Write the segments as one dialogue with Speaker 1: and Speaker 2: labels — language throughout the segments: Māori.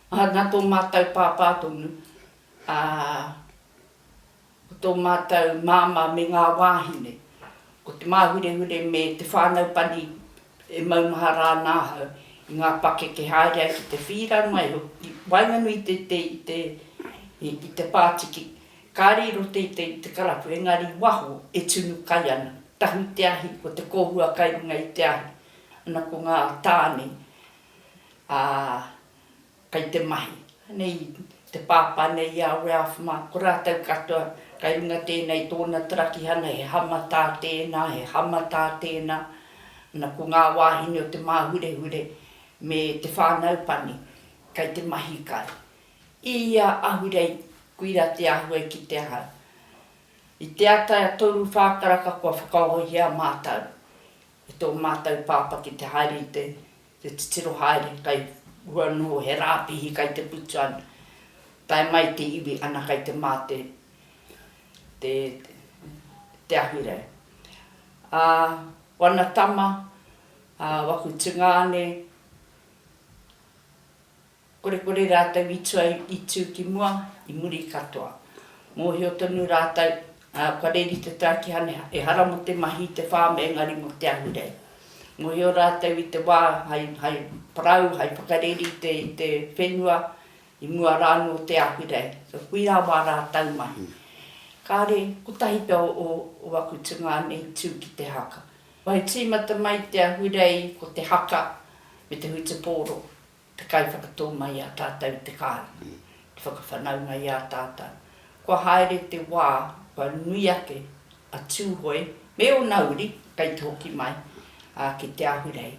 Speaker 1: Aha na tō mātou pāpā tonu, ā, ko tō mātou māmā me ngā wāhine, ko te māhurehure me te whānau pani e maumahara ana ahau i ngā pakeke haere ai ki te whīra mai hoki i waenganui teitei i te, i te pātiki, kāre i roto teitei i te karapu engari i waho e tunu kai ana. Tahu i te ahi, ko te kōhua kai runga i te ahi, ana ko ngā tāne. Ā, kei te mahi. Nei te pāpā nei i a Ralph mā, ko rātou katoa, kei runga tēnei tōna tarakihana, he hamatā tēnā, he hamatā tēnā, ana ko ngā wāhine o Te Māhurehure me te whānau pani, kei te mahi kai. I ia ahurei, koira te āhua i kite ahau. I te ata a Toru Whākaraka kua whakaohia mātou e tō mātou pāpā ki te haere i te. Te titiro haere kai hua nō he rāpihi kai te putu ana. Tae mai te iwi ana kai te mā te te te Ahurei. A wana tama a waku tungāne Korekore rātou i tua i tū ki mua, i muri katoa. Mōhio tonu rātou, ā, kua reri te tākihane ehara mō te mahi i te whārm engari mō te ahurei. Mōhio rātou i te wā hai, hai parau, hai whakareri i te, i te whenua, i mua rā anō o te ahurei. So, kuia wā rātou mahi. Kāre, kotahi pea o, o, o aku tungāne i tū ki te haka. Wai tīmata mai te ahurei ko te haka me te hutupōro. te kaiwhakatō mai i a tātou i te kāinga, te whakawhanaunga i a tātou. Kua haere te wā, kua nui ake a Tūhoe me ōna uri, kei te hoki mai, ā, ki Te Ahurei.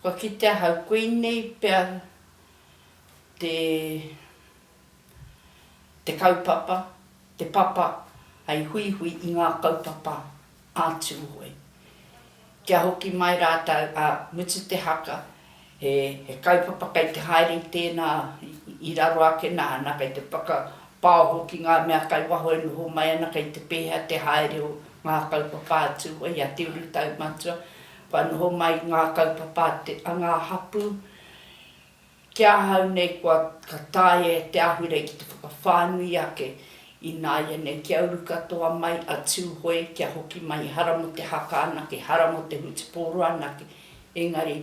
Speaker 1: Kua kite ahau, koinei pea te, te kaupapa, te papa hei huihui i ngā kaupapa a Tūhoe. Kia hoki mai rātou a mutu te haka, he kaupapa kei te haere i tēnā i raro ake nāna kei te whakapaoho ki ngā mea kai waho e noho mai ana kei te pēhea te haere o ngā kaupapa a Tūhoe i a Te Urutaumatua kua noho mai ngā kaupapa a ngā hapū Ki ahau nei kua ka taea e te ahurei ki te whakawhānui ake i nāianei kia uru katoa mai a Tūhoe kia hoki mai hara mō te haka anake, hara mō te hutupōro anake, engari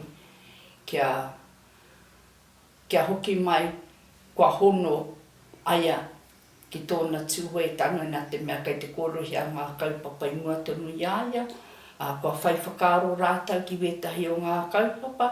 Speaker 1: kia kia hoki mai kua hono aia ki tōna Tūhoe tango nā te mea kei te kōrerohia ngā kaupapa i mua tonu i a ia, ā, kua whai whakaaro rātau ki wētahi o ngā kaupapa,